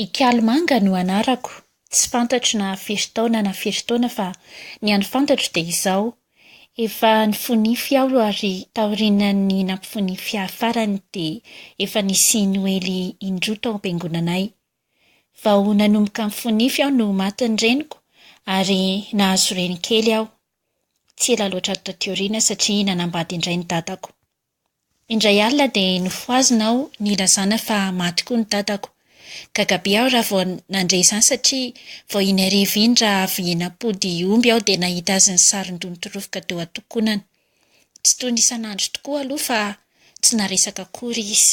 Ikalmanga no anarako, tsy fantatro na firy taona na firy taona fa ny an'ny fantatro dia izao, efa nifonify aho ary taorian'ny nampifonify ahy farany dia efa nisy noely indroa tao am-piangonanay. Vao nanomboka nifonify aho no matin'ny reniko ary nahazo reny kely aho, Tsy ela loatra taty aoriana satria nanambady indray ny dadako. Indray alina dia nofohazina aho nilazana fa maty koa ny dadako. Gaga be aho raha vao nandre izany satria vao iny hariva iny raha avy nampody omby aho dia nahita azy nisaron-doha nitrofoka teo an-tokonany. Tsy toy ny isan'andro tokoa aloha fa tsy naresaka akory izy.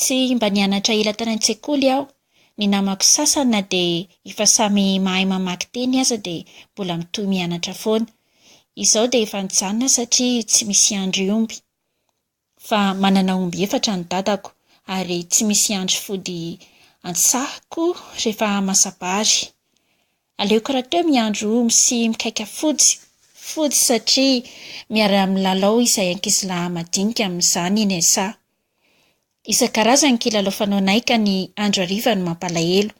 Tsy mba nianatra ela tany an-tsekoly aho. Ny namako sasany na dia efa samy mahay mamaky teny aza dia mbola mitohy mianatra foana. Izao dia efa nijanona satria tsy misy hiandry omby. Fa manana omby efatra ny dadako ary tsy misy hiandry fody an-tsaha koa rehefa hamasa-bary. Aleoko rahateo miandry omby sy mikaika fojy fody satria miara milalao izahay ankizilahy madinika amin'izany iny esa. Isan-karazany ny kilalao fanaonay ka ny andro hariva no mampalahelo.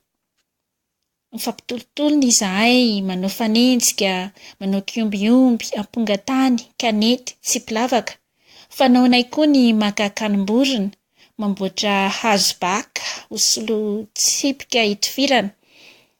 Mifampitolotolona izahay, manao fanenjika, manao kiombiomby, amponga tany, kanety, tsipy lavaka. Fanaonay koa ny maka akanim-borona, mamboatra hazo baka ho solontsipika hitifirana,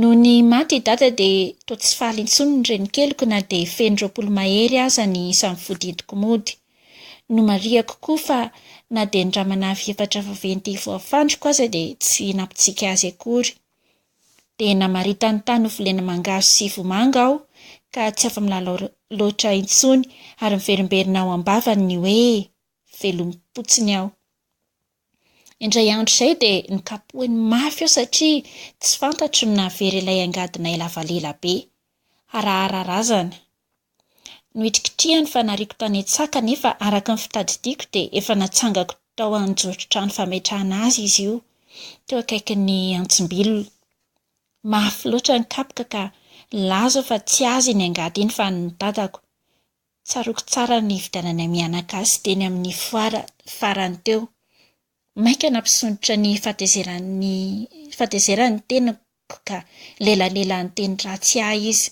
Nony maty i Dada dia toa tsy faly intsony ny renikeliko na dia feno roapolo mahery aza ny isan'ny vody entiko mody. Nomarihako koa fa na dia ny ramanavy efatra vaventy voafandriko aza dia tsy nampitsiky azy akory. Dia namaritany tany ho volena mangahazo sy vomanga aho ka tsy afa-milalao loatra intsony ary miverimberina ao am-bavany ny hoe, Velom-potsiny aho. Indray andro izay dia nokapohiny mafy aho satria tsy fantatro ny nahavery ilay angadinay lava lela be. Harahara razana. Nohitrikitrihany fa nariako tany an-tsaka nefa araka ny fitadidiako dia efa natsangako tao an-joron-trano fametrahana azy izy io, teo akaikin'ny antsimbilona. Mafy loatra ny kapoka ka nilaza aho fa tsy azy iny angady iny fa an'ny dadako. Tsaroako tsara ny nividiananay miana gasy teny amin'ny foara farany teo. Mainka nampisondrotra ny fahatezeran'ny fahatezerany ny tenako ka lelalela niteny ratsy ahy izy.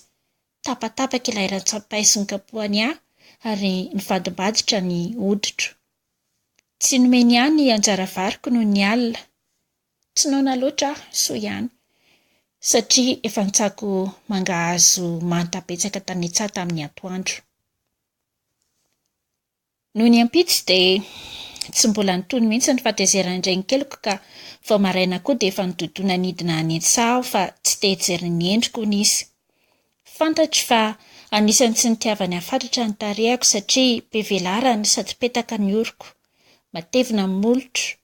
Tapatapaka ilay rantsampay sy nokapohany ahy ary nivadimbadika ny hoditro. Tsy nomeny ahy ny anjara variko noho ny alina. Tsy noana loatra aho, soa ihany, satria efa nitsako mangahazo manta betsaka tamin'Itsaha tamin'ny antoandro. Nony ampitso dia tsy mbola nitony mihitsy ny fahatezeran'ny renikeliko ka vao maraina koa dia efa nidodona nidina any Itsaha aho fa tsy te hijery ny endriko hono izy. Fantatro fa anisan'ny tsy nitiavany hafatratra ny tarehako satria be velarany sady petaka ny oroko. Matevina ny molotro,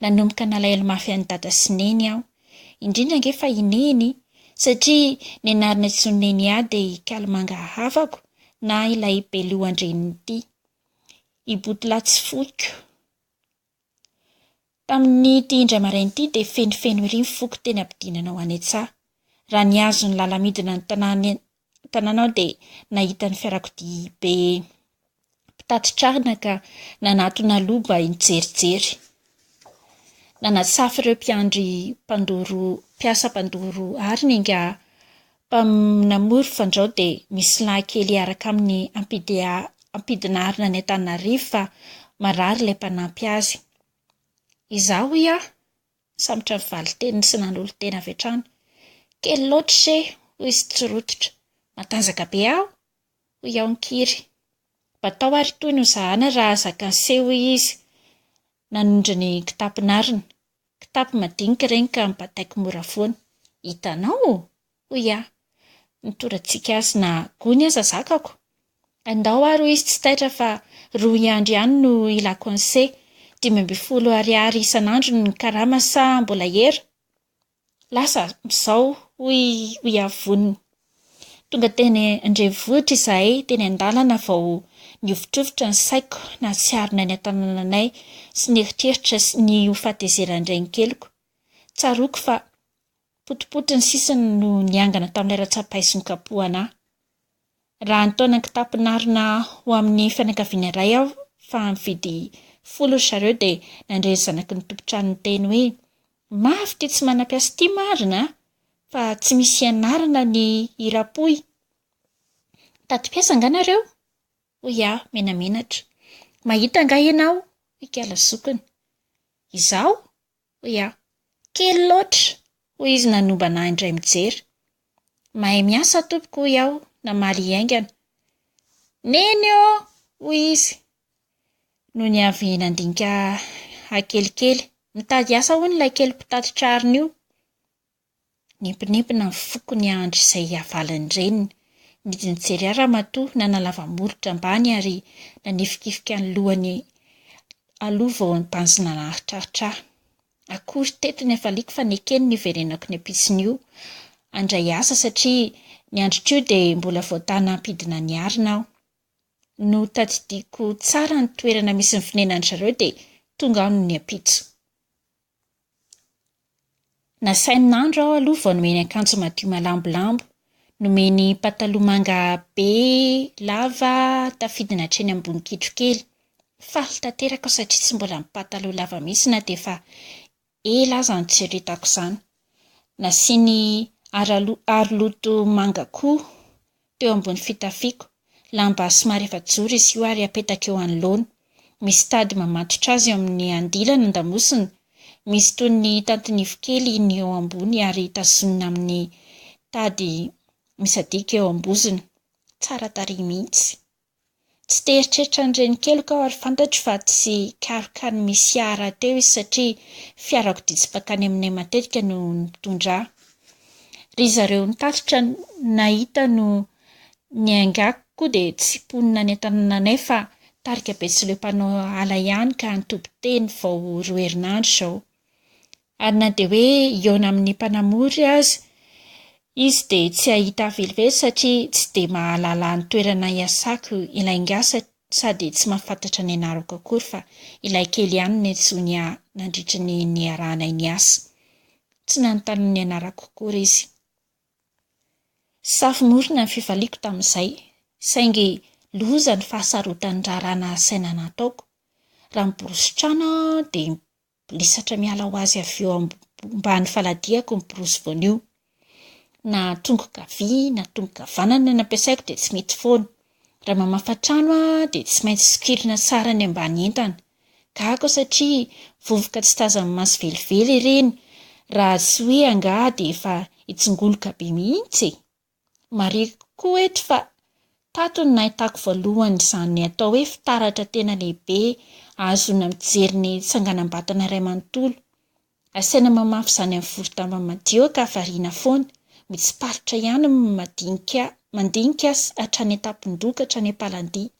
Nanomboka nalahelo mafy an'i Dada sy Neny aho, indrindra ange fa i Neny, satria ny anarana antsoin'i Neny ahy dia i Kalimanga havako na ilay belohan-drenin'ity. I Botolahy tsy foiko. Tamin'ity indray maraina ity dia fenofeno ery ny foko teny am-pidinana ho any an-tsaha. Raha nihazo ny làla midina ny tanàna tanàna aho dia nahita ny fiarakodia be mpitatitra ka nanatona aloha mba hijerijery. Nanasafy ireo mpiandry mpandoro mpiasa mpandoro ary ny angaha namory fandrao dia misy lahy kely hiaraka aminy hampidi- hampidinarina any Antananarivo fa marary ilay mpanampy azy. Izaho hoy aho, Nisambotra ny valin-teniny sy nanolo-tena avy hatrany. Kely loatra ise, hoy izy tsy rototra. Matanjaka be aho, hoy aho nikiry. Mba tao ary toy ny ho zahana raha zaka ny seho, hoy izy, nanondro ny kitapony arina. Kitapo madinika ireny ka nibataiko mora foana. Hitanao? Hoy aho, Nitoratsika azy na gony aza zakako. Andao ary hoy izy tsy taitra fa rohy andro ihany no ilako anse, dimy ambin'ny folo ariary isan'andro ny karama sa mbola hera? Lasa amin'izao hoy hoy aho vonona. Tonga teny an-drenivohitra izahay, teny an-dalana vao nihovitrovitra ny saiko nahatsiaronay ny an-tanananay sy ny eritreritra sy ny ho fatezeran-drainikeliko. Tsaroako fa Potipoti ny sisiny no niangana tamin'ilay ratsa-paiso nikapohana ahy. Raha nitaona ny kitapom-pinarina ho amin'ny fianakaviana iray aho fa mividy folo ry zareo dia nandre ny zanaky ny tompon-trano niteny hoe, Mafy ity tsy manam-piasa ity marina a! Fa tsy misy ianarana ny hiram-pohy. Mitady mpiasa angaha nareo? hoy aho menamenatra. Mahita angaha ianao? hoy Kala zokiny. Izaho? hoy aho. Kely loatra! hoy izy nanombana ahy indray mijery. Mahay miasa tompoko hoy aho namaly hiaingana. Neny ô! hoy izy nony avy nandinika ahy kelikely. Mitady asa hono ilay kely mpitatitra arina io. Nimpinimpina ny foko niandry izay hihavalon'ny reniny. Nidinjery ahy ramatoa nanalava molotra ambany ary nanifikifika ny lohany aloha vao nibanjina naharitraritra ahy. Akory teto ny hafaliako fa nekeny niverenako ny ampitsony io handray asa satria ny androko io dia mbola vao tana hampidina ny arina aho. Notadidiako tsara ny toerana misy ny fonenan'izareo dia tonga aho no niampitso. Nasainy nandro aho aloha vao nomeny akanjo madio malambolambo. Nomeny pataloha manga be lava tafidina hatreny ambony kitro kely. Faly tanteraka aho satria tsy mbola mipataloha lava mihitsy na dia efa ela aza notsiritako izany. Nasiany araloha- aroloha manga koa teo ambony fitafiako, lamba somary efajoro izy io ary apetaka eo anoloana, misy tady mamatotra azy eo amin'ny andilana an-damosina, misy toy ny tantinivo kely ny eo ambony ary tazonina amin'ny tady misadika eo am-bozony. Tsara tarehy mihitsy. Tsy te hieritreritra ny reniko heloka aho ary fantatro fa tsy hikaroka ny misy ahy rahateo izy satria fiarakodia tsy bakany aminay matetika no mitondra ahy. Ry zareo nitatitra nahita no niaingako koa dia tsy mponina any an-tanànanay fa tarika betsileo mpanao ala ihany ka ny toby teny vao roa herinandro izao. Ary na dia hoe hihaona amin'ny mpanamory aza izy dia tsy hahita ahy velively satria tsy dia mahalala ny toerana iasako ilay ingahy sady tsy mahafantatra ny anarako akory fa ilay kely ihany no nantsoiny ahy nandritry ny niarahanay niasa. Tsy nanontany ny anarako akory izy. Safo-morona ny fifaliako tamin'izay, saingy loza ny fahasarotan'ny raharaha nahasaina nataoko. Raha miborosy trano aho dia Lesatra miala ho azy avy eo ambany faladiako ny prosy voanio. Na tongoka havia na tongoka havanana no ampiasaiko dia tsy mety foana. Raha mamafa trano aho dia tsy maintsy sokirina tsara ny ambany entana. Gaga aho satria vovoka tsy tazan'ny maso velively ireny raha tsy hoe angaha dia efa hitsingoloka be mihitsy e! Marihiko koa eto fa tato no nahitako voalohany izany atao hoe fitaratra tena lehibe ahazoana mijery ny tsanganam-batana iray manontolo. Asaina mamafy izany amin'ny voro-damba madio ka variana foana, mitsiparitra ihany ny madinika mandinika sy hatrany an-tampon-doha ka hatrany am-palan-dia.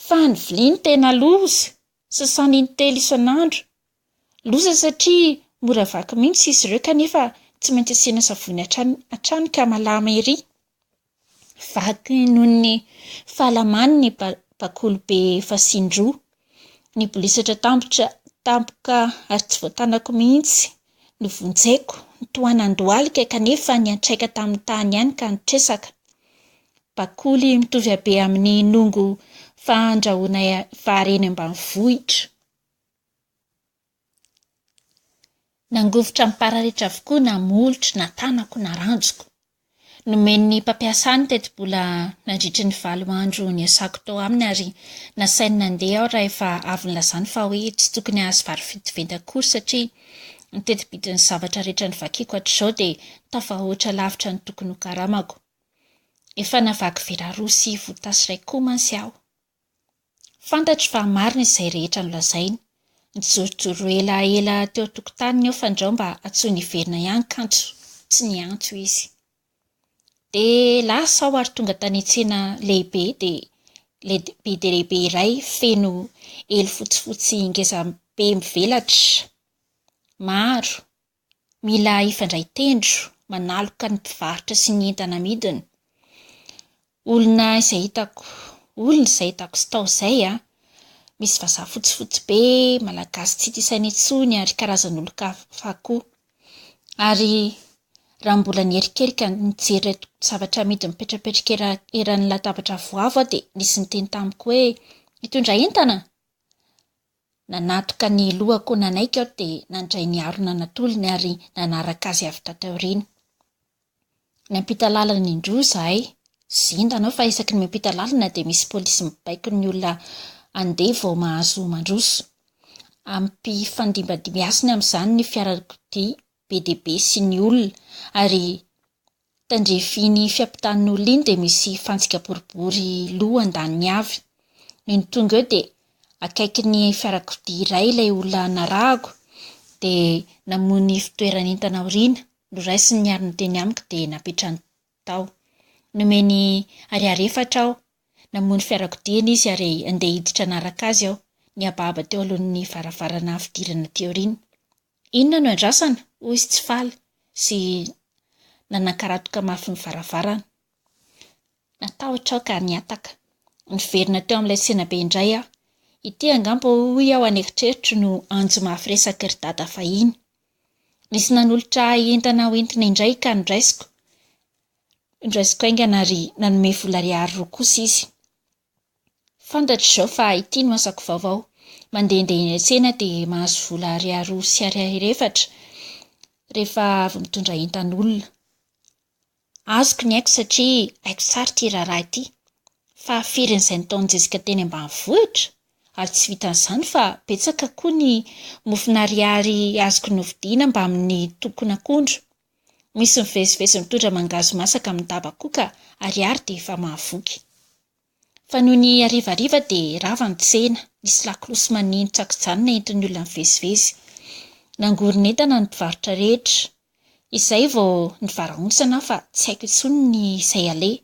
Fa ny vilia no tena loza! Sasany intelo isan'andro. Loza satria mora vaky mihitsy izy ireo kanefa tsy maintsy asiana savony hatrany hatrany ka malama ery. Vaky noho ny fahalamany ny bakoly be fasiny roa. Nibolisatra tampoka ary tsy voatanako mihitsy. Novonjeko, nitohanan-dohalika kanefa niantraika tamin'ny tany ihany ka nitresaka. Bakoly mitovy habe amin'ny nongo fandrahoana vary eny ambanivohitra. Nangovitra ny pararetra avokoa na molotro na tanako na ranjoko. Nomen'ny mpampiasa ny tetibola nandritry ny valo andro niasako tao aminy ary nasainy nandeha aho rahefa avy nilazany fa hoe tsy tokony hahazo vary ventiventy akory satria ny tetibidin'ny zavatra rehetra novakiko hatrizao dia tafahoatra lavitra ny tokony hokaramako. Efa navaky vera roa sy votasy iray koa mantsy aho. Fantatro fa marina izay rehetra nolazainy. Nijorojoro ela ela teo an-tokotaniny aho fandrao mba antsoiny hiverina ihany kanjo tsy niantso izy. Dia lasa aho ary tonga tany tsena lehibe dia be dia lehibe iray feno elo fotsifotsy ngezabe mivelatra maro. Mila hifandray tendro, manaloka ny mpivarotra sy ny entana amidiny. Olona izay hitako, olona izay hitako sy tao izay an! Misy vazaha fotsifotsy be, malagasy tsy hita isaina intsony ary karazan'olon-kafa koa. Ary raha mbola niherikerika nijery ireto zavatra amidy mipetrapetraka era- eran'ny latabatra avoavo aho dia nisy niteny tamiko hoe, Mitondra entana? Nanatoka ny lohako nanaiky aho dia nandray ny harona natolony ary nanaraka azy avy tato aoriana. Niampita lalana indroa izahay. Zinda anao fa isaky ny miampita lalana dia misy polisy mibaiko ny olona handeha vao mahazo mandroso. Ampifandimbindimbiasiny amin'izany ny fiarakodia be dia be sy ny olona ary Tandrefin'iny fiampitan'olona iny dia misy fantsika boribory loha andaniny avy. Nony tonga eo dia akaikin'ny fiarakodia iray ilay olona narahako dia namoy ny fitoerany entana aoriana, noraisiny ny arony teny amiko dia napetrany tao. Nomeny ariary efatra aho. Namoy ny fiarakodiany izy ary andeha hiditra hanaraka azy aho. Nihabahaba teo alohan'ny varavarana fidirana aty aoriana. Inona no iandrasana? hoy izy tsy faly sy nanankaratoka mafy ny varavarana. Natahotra aho ka nihataka. Niverina teo amin'ilay tsenabe indray aho. Ity angamba hoy aho any eritreritra no anjo mafy resaky ry dada fahiny. Nisy nanolotra ahy entana ho entina indray ka noraisiko. Noraisiko haingana ary nanome vola ariary roa kosa izy. Fantatro izao fa ity no asako vaovao. Mandehandeha eny an-tsena dia mahazo vola ariary roa sy ariary efatra rehefa avy mitondra entan'olona. Azoko ny aiko satria haiko tsara ity raharaha ity. Fa firy an'izay nataon'i Jessica teny ambanivohitra? Ary tsy vitan'izany fa betsaka koa ny mofona ariary azoko novidiana mbamin'ny tokon'akondro. Misy mivezivezy mitondra mangahazo masaka amin'ny daba koa ka, ary ary dia efa mahavoky. Fa noho ny harivariva dia rava ny tsena, nisy lakolosy maneno tsy an-kijanona entin'ny olona mivezivezy. Nangoron'entana ny mpivarotra rehetra. Izay vao nivaraontsana aho fa tsy haiko intsony ny izay aleha.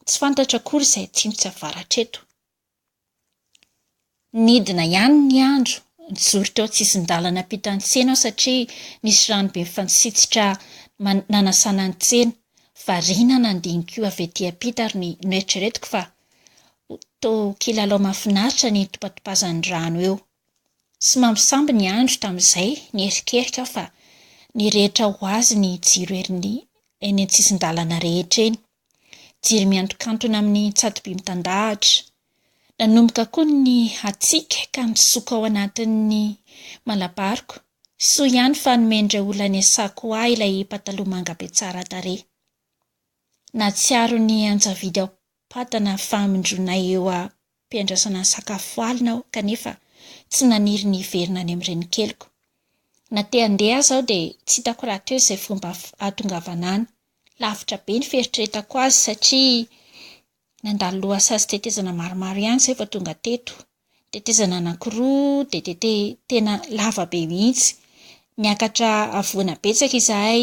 Tsy fantatro akory izay atsimo sy avaratra eto. Nidina ihany ny andro. Nijoro teo an-tsisin-dalana hampita ny tsena aho satria nisy rano be mifanitsitsitra nanasana ny tsena. Variana nandinika avy ety ampita ary noeritreretiko fa toa kilalao mahafinaritra ny hitopatopazan'ny rano eo. Tsy mampisambo ny andro tamin'izay, niherikerika aho fa ny rehetra ho azy ny jiro eny an-tsisin-dalana rehetra eny. Jiro miantokantona amin'ny tsatoby mitandahatra. Nanomboka koa ny hatsiaka ka nisoko ao anatin'ny malabaroko. Soa ihany fa nomen'ireo olona niasako ahy ilay pataloha manga be tsara tarehy. Nahatsiaro ny anjavidy ao am-patana famindronay eo mpiandrasana ny sakafo valiny aho kanefa tsy naniry ny hiverina any amin'ny renikeliko. Na te handeha aza aho dia tsy hitako rahateo izay fomba hahatongavana any. Lavitra be ny fieritreretako azy satria nandalo lohasaha sy tetezana maromaro ihany izay vao tonga teto. Tetezana anankiroa dia tete tena lava be mihitsy. Niakatra havoana betsaka izahay,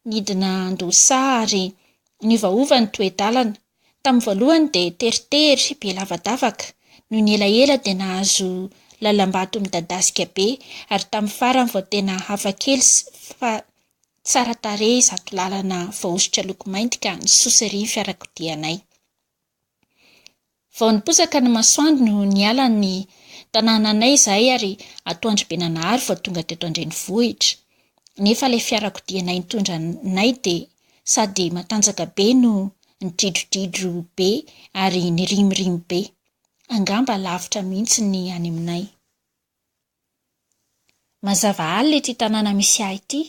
nidina an-dohasaha ary niovaova ny toe-dalana. Tamin'ny voalohany dia teritery, be lavadavaka, noho ny elaela dia nahazo lalam-bato midadasika be ary tamin'ny farany vao tena hafa kely sy fa tsara tarehy izato lalana voahosotra loko mainty ka nisosery ny fiarakodianay. Vao niposaka ny masoandro no niala ny tanànanay izahay ary atoandro be nanahary vao tonga teto an-drenivohitra. Nefa ilay fiarakodianay nitondra anay dia sady matanjaka be no nidridrodridro be ary nirimorimo be, angamba lavitra mihitsy ny any aminay. Mazava alina ity tanàna misy ahy ity,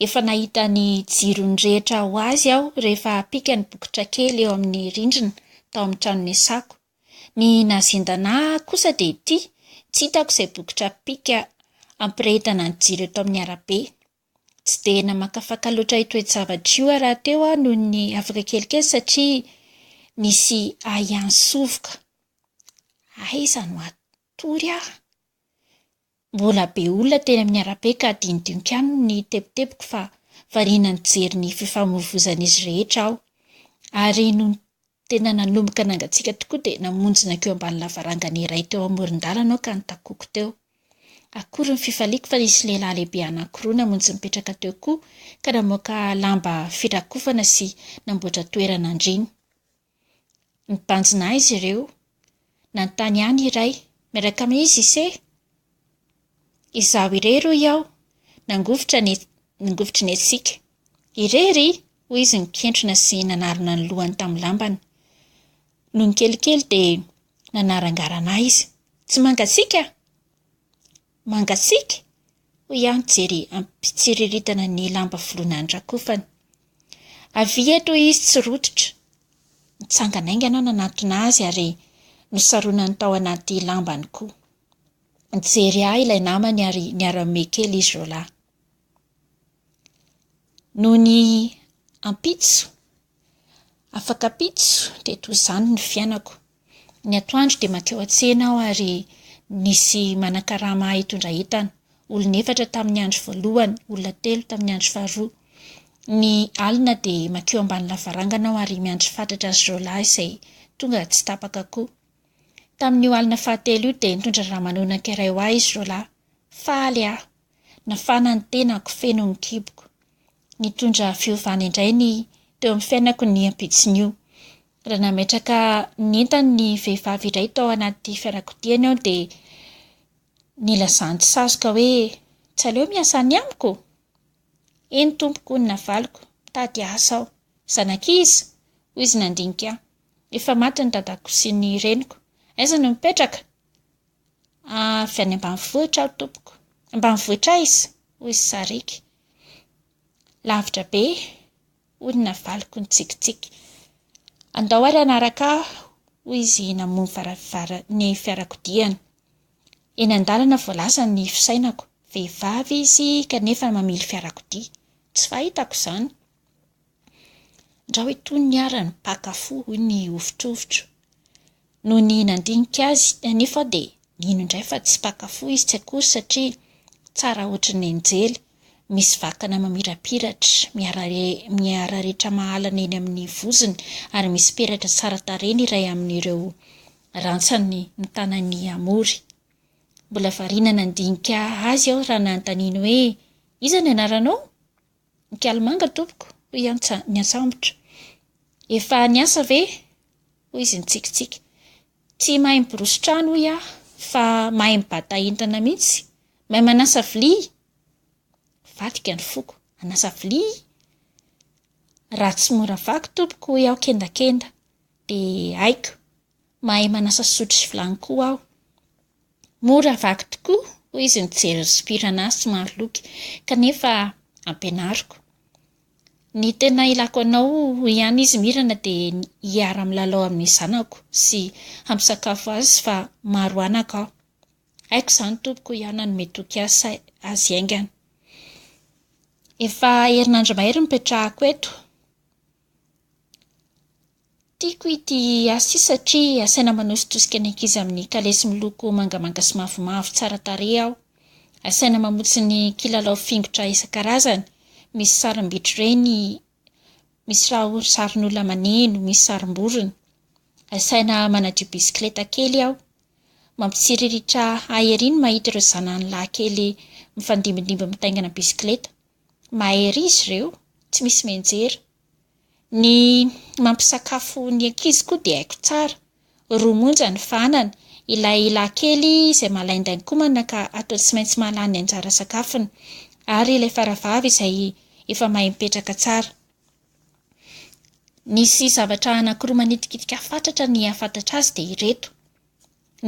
efa nahita ny jirony rehetra ho azy aho rehefa pikany bokotra kely eo amin'ny rindrina tao amin'ny trano niasako. Ny nahazendana ahy kosa dia ity, tsy hitako izay bokotra pika hampirehetana ny jiro eto amin'ny arabe. Tsy dia namakafaka loatra io toe-javatra io aho rahateo aho noho ny afaka kelikely satria nisy ahiahin-tsovoka. Aiza no hatory aho? Mbola be olona teny amin'ny arabe ka hadinodinoka any ny tebitebiko fa variana nijery ny fifamoivoizan'izy rehetra aho. Ary no Tena nanomboka nangatsiaka tokoa dia namonjy nankeo ambany lavarangana iray teo amoron-dalana aho ka nitakoako teo. Akory ny fifaliako fa nisy lehilahy lehibe anankiroa namonjy nipetraka teo koa ka namoaka lamba firakofana sy namboatra toerana andriana. Nibanjina ahy izy ireo Nanontany ahy ny iray, Miaraka amin'i Jise? Izaho irery, hoy aho, nangovitra ny nangovitry ny hatsiaka. Irery? hoy izy nikentrona sy nanarona ny lohany tamin'ny lambany. Nony kelikely dia nanarangarana ahy izy. Tsy mangatsiaka? Mangatsiaka? hoy aho nijery am-pitsiriritana ny lamba voloina andrakofany. Avia eto izy tsy rototra. Nitsangana aingana aho nanantona azy ary nosaronany tao anaty lambany koa. Nijery ahy ilay namany ary niara-mihomehy kely izy roalahy. Noho ny ampitso, Afaka pitso dia toa izany ny fiainako. Ny atoandro dia mankeo an-tsena aho ary nisy manan-karama ahy hitondra entana. Olona efatra tamin'ny andro voalohany, olona telo tamin'ny andro faharoa. Ny alina dia mankeo ambany lavarangana aho ary miandry fatratra azy ireo lahy izay tonga tsy tapaka koa. Tamin'io alina fahatelo io dia nitondra ramanonaka iray ho ahy izy ireo lahy. Faly aho. Nafana ny tenako, feno ny kiboko. Nitondra fiovana indray ny teo amin'ny fiainako ny ampitson'io. Raha nametraka ny entany ny vehivavy iray tao anaty fianakodiany aho dia nilazany sazoka hoe tsy aleo miasa any amiko? Eny tompoko hoy ny navaliko, mitady asa aho. Zanak'iza? hoy izy nandinika ahy. Efa maty ny dadako sy ny reniko. Aiza no mipetraka? Avy any ambanivohitra aho tompoko. Ambanivohitra aiza? hoy i Sariaka. Lavitra be, hoy ny navaliko nitsikitsiky. Andao ary hanaraka ahy, hoy izy namoha varavara ny fiarakodiany. Eny an-dalana vao lasa ny fisainako. Vehivavy izy kanefa mamily fiarakodia. Tsy fahitako izany. Ndrao itony ny arany, mpaka fo, hoy ny hovitrovitro. Nony nandinika azy anefa dia nino indray fa tsy mpaka fo izy, tsy akory satria tsara hoatry ny anjely, misy vakana mamirapiratra, miararetra mahalana eny amin'ny vozony ary misy peratra tsara tarehy ny iray amin'ireo rantsany ny tanan'i Amory. Mbola variana nandinika azy aho raha nanontaniany hoe, Iza ny anaranao? Nkalimanga tompoko, hoy i Antsa niantsambotra. Efa niasa ve? hoy izy nitsikitsiky. Tsy mahay miborosy trano hoy aho, fa mahay mibata entana mihitsy. Mahay manasa vilia? Vadika ny foko. Hanasa vilia? Raha tsy mora vaky tompoko, hoy aho kendakenda, dia haiko. Mahay manasa sotro sy vilany koa aho. Mora vaky tokoa, hoy izy nijery ny sompirana ahy somary loky, kanefa ampianariko. Ny tena ilako anao, hoy ihany izy mirana, dia ny hiara-milalao amin'ny zanako sy hampisakafo azy fa maro anaka aho. Haiko izany, Tompoko, hoy aho nanome toky azy haingana. Efa herinandro mahery no nipetrahako eto. Tiako ity asa io satria asaina manositosika ny ankizy amin'ny kalesy miloko mangamanga sy mavomavo tsara tarehy aho. Asaina mamotsy ny kilalao fingotra isan-karazany, misy sarim-bitro ireny, misy raha sarin'olona maneno, misy sarim-borona. Asaina manadio bisikileta kely aho. Mampitsiriritra ahy ery ny mahita ireo zanany lahy kely mifandimbindimby mitaingina bisikileta. Mahay ery izy ireo, tsy misy mianjera. Ny mampisakafo ny ankizy koa dia haiko tsara. Roa monja ny fanany. Ilay lahikely izay malain-dainkomana ka atao tsy maintsy mahalany ny anjara sakafony. Ary ilay faravavy izay efa mahay mipetraka tsara. Nisy zavatra anankiroa manitikitika fatratra ny hahafantatra azy dia ireto.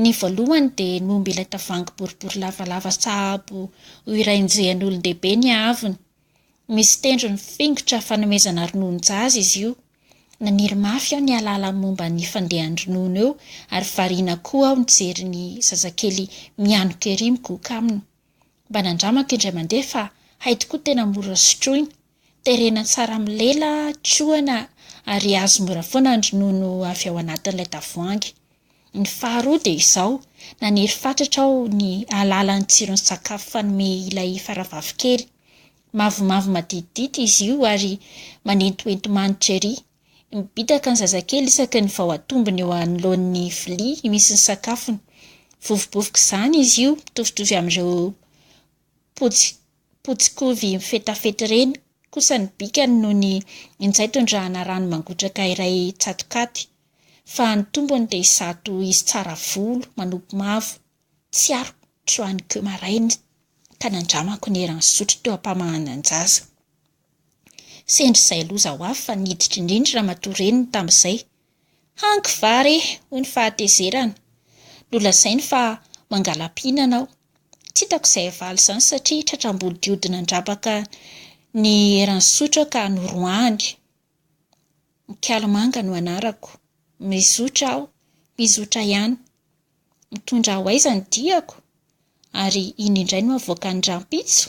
Ny voalohany dia ny omby ilay tavoahangy boribory lavalava sahabo ho iray njehan'olon-dehibe ny haavony. Misy tendrony fingotra fanomezana rononon-jaza izy io. Naniry mafy aho ny hahalala ny momba ny fandehan-dronono eo ary variana koa aho nijery ny zazakely mianoka ery migoka aminy. Mba nandramako indray mandeha fa hay tokoa tena mora sotroina. Terena tsara amin'ny lela, tsohana ary azo mora foana ny ronono avy ao anatin'ilay tavoahangy. Ny faharoa dia izao, naniry fatratra aho ny hahalala ny tsiron'ny sakafo fanome ilay faravavy kely. Mavomavo maditidity izy io ary manentohento manitra ery. Mibitaka ny zazakely isaky ny vao atombony eo anoloan'ny vilia misy ny sakafony. Vovobovok'izany izy io, mitovitovy amin'ireo potsy potsy kovy mifetafety ireny kosa ny bikany noho ny injay tondrahana rano mangotraka iray tsatokaty fa ny tombony dia izato izy tsara volo manopy mavo tsy aro troany ko maraina ka nandramako ny eran'ny sotro teo ampamahanan-jaza sendra izay loza ho avy fa niditra indrindra ramatoa reniny tamin'izay Hanky va re, hoy ny fahatezerany. Nolazainy fa mangala-pihinana aho. Tsy hitako izay havaly izany satria tratram-bodiody nandrapaka ny eran'ny sotra ka noroahany. Mikalo manga no anarako. Mizotra aho, mizotra ihany. Mitondra aho aiza ny diako? Ary iny indray no avoakan'ny rahampitso?